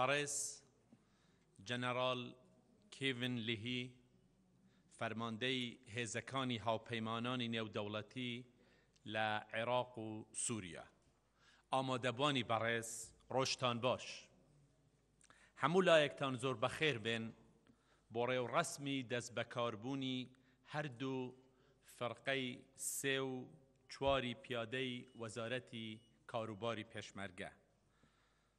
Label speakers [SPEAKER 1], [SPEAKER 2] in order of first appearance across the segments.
[SPEAKER 1] بەڕێز جەنەڕاڵ کیڤن لیهی فەرماندەی هێزەکانی هاوپەیمانانی نێودەوڵەتی لە عێراق و سووریا ئامادەبانی بەڕێز ڕۆژتان باش هەموو لایەکتان زۆر بەخێر بێن بۆ ڕێوڕەسمی دەست بەکاربوونی هەردوو فرقەی سێ و چواری پیادەی وەزارەتی کاروباری پێشمەرگە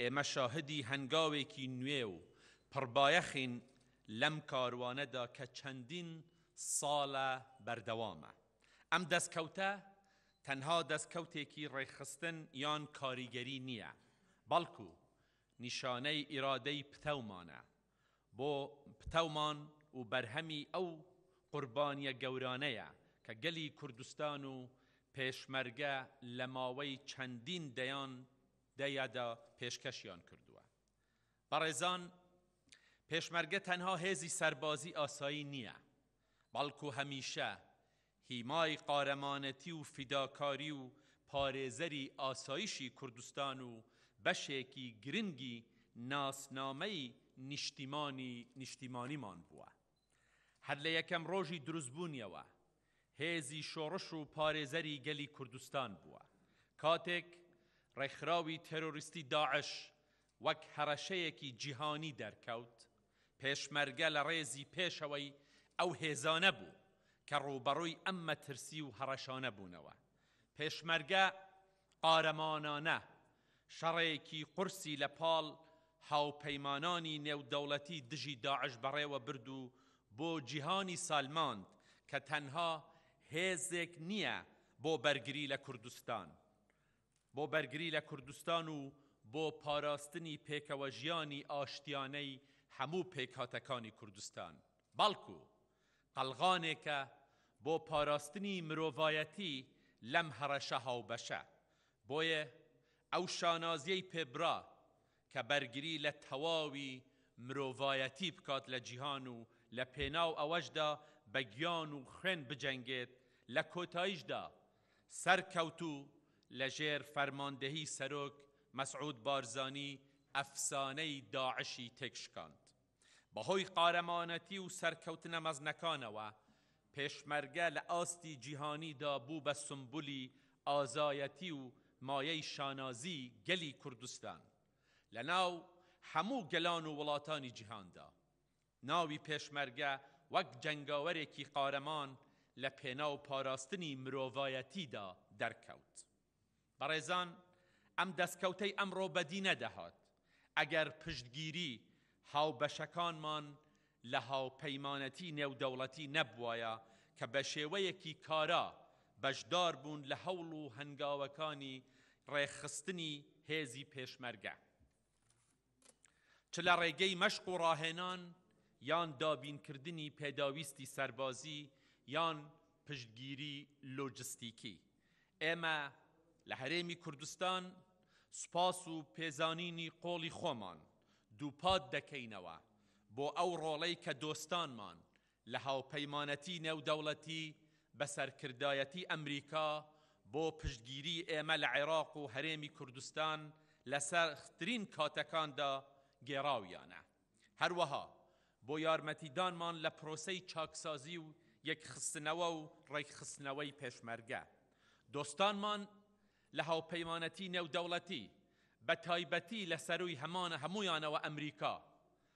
[SPEAKER 1] ئێمە شاهدی هەنگاوێکی نوێ و پڕبایەخین لەم کاروانەدا کە چەندین ساڵە بەردەوامە. ئەم دەستکەوتە تەنها دەستکەوتێکی ڕێکخستن یان کاریگەری نییە، بەڵکو نیشانەی ئیرادەی پتەومانە بۆ پتەومان و بەرهەمی ئەو قوربانییە گەورانەیە کە گەلی کوردستان و پێشمەرگە لە ماوەی چەندین دەیان دا یا دا پێشکەشیان کردووە. بەڕێزان پێشمەرگە تەنها هێزی سەربازی ئاسایی نییە، بەڵکو هەمیشە هیمای قارەمانەتی و فیداکاری و پارێزەری ئاسایشی کوردستان و بەشێکی گرنگی ناسنامەی نیشتیمانی نیشتیمانیمان بووە. هەر لە یەکەم ڕۆژی دروستبوونیەوە هێزی شۆڕش و پارێزەری گەلی کوردستان بووە. کاتێک ڕێکخراوی تێرۆریستی داعش وەک هەڕەشەیەکی جیهانی دەرکەوت، پێشمەرگە لە ڕێزی پێشەوەی ئەو هێزانە بوو کە ڕووبەڕووی ئەم مەترسی و هەڕەشانە بوونەوە. پێشمەرگە قارەمانانە شەڕێکی قورسی لە پاڵ هاوپەیمانانی نێودەوڵەتی دژی داعش بەڕێوە برد و بۆ جیهانی سەلماند کە تەنها هێزێک نییە بۆ بەرگری لە کوردستان بۆ بەرگری لە کوردستان و بۆ پاراستنی پێکەوەژیانی ئاشتیانەی هەموو پێکهاتەکانی کوردستان بەڵکو قەڵغانێکە بۆ پاراستنی مرۆڤایەتی لەم هەڕەشە هاوبەشە، بۆیە ئەو شانازیەی پێبرا کە بەرگری لە تەواوی مرۆڤایەتی بکات لە جیهان و لە پێناو ئەوەشدا بە گیان و خوێن بجەنگێت، لە کۆتایشدا سەرکەوت و لە ژێر فەرماندەهی سەرۆک مەسعود بارزانی ئەفسانەی داعشی تێکشکاند. بەهۆی قارەمانەتی و سەرکەوتنە مەزنەکانەوە، پێشمەرگە لە ئاستی جیهانیدا بوو بە سومبولی ئازایەتی و مایەی شانازی گەلی کوردستان لە ناو هەموو گەلان و وڵاتانی جیهاندا. ناوی پێشمەرگە وەک جەنگاوەرێکی قارەمان لە پێناو پاراستنی مرۆڤایەتیدا دەرکەوت. بەڕێزان ئەم دەستکەوتەی ئەمڕۆ بەدی نەدەهات ئەگەر پشتگیری هاوبەشەکانمان لە هاوپەیمانەتی نێودەوڵەتی نەبوایە کە بە شێوەیەکی کارا بەشدار بوون لە هەوڵ و هەنگاوەکانی ڕێکخستنی هێزی پێشمەرگە. چ لە ڕێگەی مەشق و ڕاهێنان یان دابینکردنی پێداویستی سەربازی یان پشتگیری لۆجستیکی. ئێمە لە هەرێمی کوردستان سوپاس و پێزانینی قوڵی خۆمان دووپات دەکەینەوە بۆ ئەو ڕۆڵەی کە دۆستانمان لە هاوپەیمانەتی نێودەوڵەتی بە سەرکردایەتی ئەمریکا بۆ پشتگیری ئێمە لە عێراق و هەرێمی کوردستان لە سەخترین کاتەکاندا گێڕاویانە. هەروەها بۆ یارمەتیدانمان لە پرۆسەی چاکسازی و یەکخستنەوە و ڕێکخستنەوەی پێشمەرگە دۆستانمان لە هاوپەیمانەتی نێودەوڵەتی بە تایبەتی لە سەرووی هەموویانەوە ئەمریکا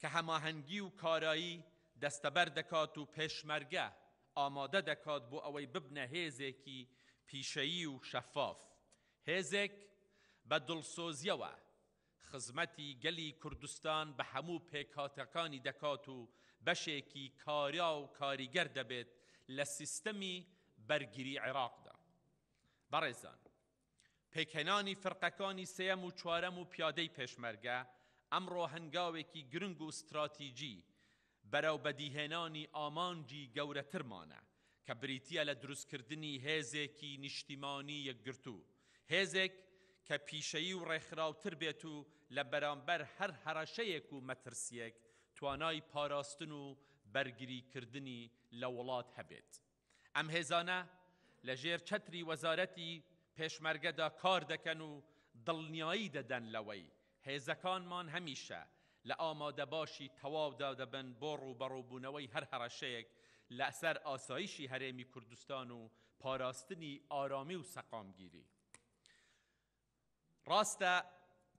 [SPEAKER 1] کە هەماهەنگی و کارایی دەستەبەر دەکات و پێشمەرگە ئامادە دەکات بۆ ئەوەی ببنە هێزێکی پیشەیی و شەفاف، هێزێک بە دڵسۆزییەوە خزمەتی گەلی کوردستان بە هەموو پێکهاتەکانی دەکات و بەشێکی کارا و کاریگەر دەبێت لە سیستەمی بەرگری عێراقدا. بەڕێزان. پێکهێنانی فرقەکانی سێیەم و چوارەم و پیادەی پێشمەرگە ئەمڕۆ هەنگاوێکی گرنگ و ستراتیجی بەرەو بەدیهێنانی ئامانجی گەورەترمانە کە بریتییە لە دروستکردنی هێزێکی نیشتیمانی یەکگرتوو، هێزێک کە پیشەیی و ڕێکخراوتر بێت و لە بەرامبەر هەر هەڕەشەیەک و مەترسییەک توانای پاراستن و بەرگریکردنی لە وڵات هەبێت. ئەم هێزانە لە ژێر چەتری وەزارەتی پێشمەرگەدا کار دەکەن و دڵنیایی دەدەن لەوەی هێزەکانمان هەمیشە لە ئامادەباشی تەواودا دەبن بۆ ڕووبەڕووبوونەوەی هەر هەڕەشەیەک لەسەر ئاسایشی هەرێمی کوردستان و پاراستنی ئارامی و سەقامگیری ڕاستە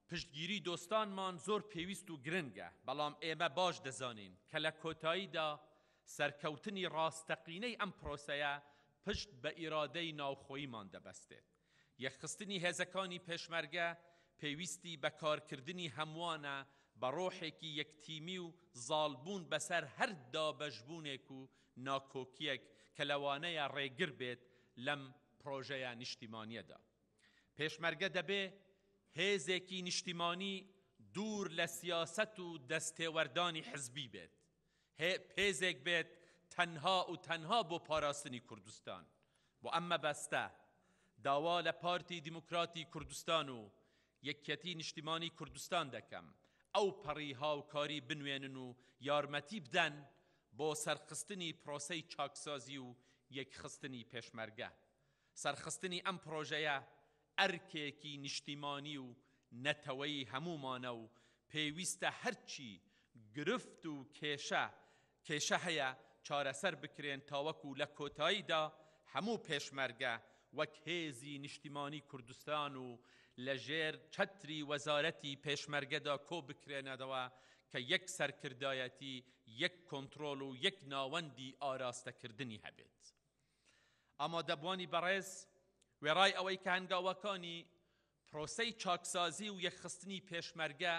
[SPEAKER 1] پشتگیری دۆستانمان زۆر پێویست و گرنگە، بەڵام ئێمە باش دەزانین کە لە کۆتاییدا سەرکەوتنی ڕاستەقینەی ئەم پرۆسەیە پشت بە ئیرادەی ناوخۆییمان دەبەستێت. یەکخستنی هێزەکانی پێشمەرگە پێویستی بە کارکردنی هەمووانە بە ڕۆحێکی یەکتیمی و زاڵبوون بەسەر هەر دابەشبوونێک و ناکۆکییەک کە لەوانەیە ڕێگر بێت لەم پرۆژەیە نیشتیمانییەدا. پێشمەرگە دەبێ هێزێکی نیشتیمانی دوور لە سیاسەت و دەستێوەردانی حزبی بێت. هێزێک بێت تەنها و تەنها بۆ پاراستنی کوردستان. بۆ ئەم مەبەستە داوا لە پارتی دیموکراتی کوردستان و یەکیەتی نیشتیمانی کوردستان دەکەم ئەو پەڕی هاوکاری بنوێنن و یارمەتی بدەن بۆ سەرخستنی پرۆسەی چاکسازی و یەکخستنی پێشمەرگە. سەرخستنی ئەم پرۆژەیە ئەرکێکی نیشتیمانی و نەتەوەیی هەموومانە و پێویستە هەرچی گرفت و کێشە کێشە هەیە چارەسەر بکرێن تاوەکو لە کۆتاییدا هەموو پێشمەرگە وەک هێزی نیشتیمانی کوردستان و لە ژێر چەتری وەزارەتی پێشمەرگەدا کۆبکرێنەدەوە کە یەک سەرکردایەتی، یەک کۆنترۆڵ و یەک ناوەندی ئاراستەکردنی هەبێت. ئامادەبوانی بەڕێز وێڕای ئەوەی کە هەنگاوەکانی پرۆسەی چاکسازی و یەکخستنی پێشمەرگە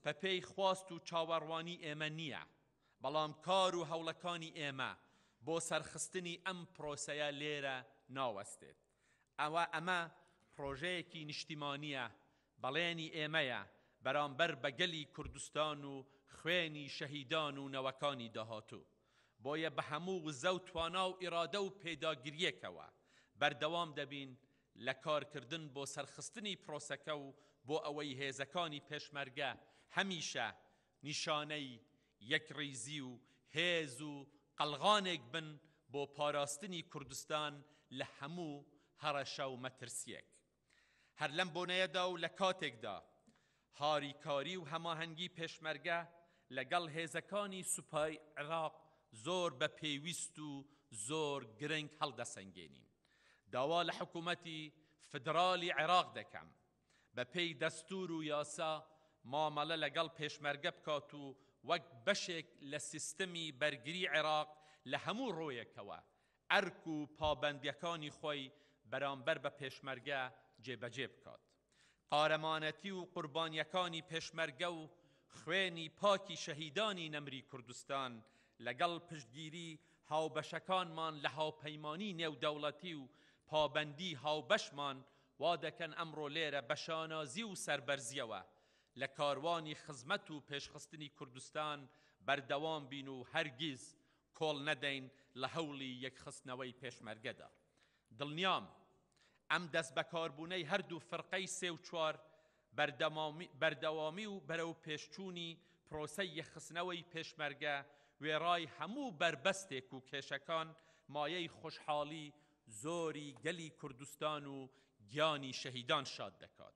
[SPEAKER 1] بە پێی خواست و چاوەڕوانی ئێمە نییە، بەڵام کار و هەوڵەکانی ئێمە بۆ سەرخستنی ئەم پرۆسەیە لێرە ناوەستێت. ئەوە ئەمە پرۆژەیەکی نیشتیمانییە، بەڵێنی ئێمەیە بەرامبەر بە گەلی کوردستان و خوێنی شەهیدان و نەوەکانی داهاتوو. بۆیە بە هەموو وزە و توانا و ئیرادە و پێداگرییەکەوە بەردەوام دەبین لە کارکردن بۆ سەرخستنی پرۆسەکە و بۆ ئەوەی هێزەکانی پێشمەرگە هەمیشە نیشانەی یەکڕیزی و هێز و قەڵغانێک بن بۆ پاراستنی کوردستان لە هەموو هەڕەشە و مەترسییەک. هەر لەم بۆنەیەدا و لە کاتێکدا هاریکاری و هەماهەنگی پێشمەرگە لەگەڵ هێزەکانی سوپای عێراق زۆر بە پێویست و زۆر گرنگ هەڵدەسەنگێنین، داوا لە حکوومەتی فیدراڵی عێراق دەکەم بەپێی دەستوور و یاسا مامەڵە لەگەڵ پێشمەرگە بکات و وەک بەشێک لە سیستمی بەرگری عێراق لە هەموو ڕوویەکەوە ئەرک و پابەندیەکانی خۆی بەرامبەر بە پێشمەرگە جێبەجێ بکات. قارەمانەتی و قوربانیەکانی پێشمەرگە و خوێنی پاکی شەهیدانی نەمری کوردستان لەگەڵ پشتگیری هاوبەشەکانمان لە هاوپەیمانی نێودەوڵەتی و پابەندی هاوبەشمان وادەکەن ئەمڕۆ لێرە بە شانازی و سەربەرزیەوە لە کاروانی خزمەت و پێشخستنی کوردستان بەردەوام بین و هەرگیز کۆڵ نەدەین لە هەوڵی یەکخستنەوەی پێشمەرگەدا. دڵنیام ئەم دەستبەکاربوونەی هەردوو فرقەی سێ و چوار بەردەوامی و بەرەوپێشچوونی پرۆسەی یەکخستنەوەی پێشمەرگە وێڕای هەموو بەربەستێک و کێشەکان مایەی خۆشحاڵی زۆری گەلی کوردستان و گیانی شەهیدان شاد دەکات.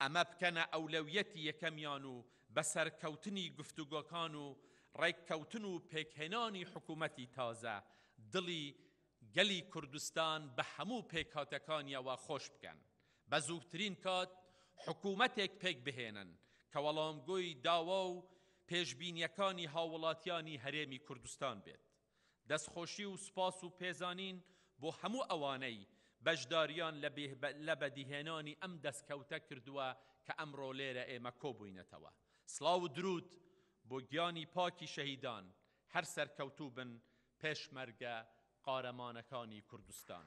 [SPEAKER 1] ئەمە بکەنە ئەولەویەتی یەکەمیان و بە سەرکەوتنی گفتوگۆکان و ڕێککەوتن و پێکهێنانی حکوومەتی تازە، دڵی گەلی کوردستان بە هەموو پێکهاتەکانییەوە خۆش بکەن. بە زووترین کات حکوومەتێک پێک بهێنن کە وەڵامگۆی داوا و پێشبینییەکانی هاووڵاتیانی هەرێمی کوردستان بێت. دەستخۆشی و سوپاس و پێزانین بۆ هەموو ئەوانەی بەشدارییان لە بەدیهێنانی ئەم دەستکەوتە کردووە کە ئەمڕۆ لێرە ئێمە کۆبووینەتەوە. سڵاو و دروود بۆ گیانی پاکی شەهیدان، هەر سەرکەوتوو بن پێشمەرگە قارەمانەکانی کوردستان.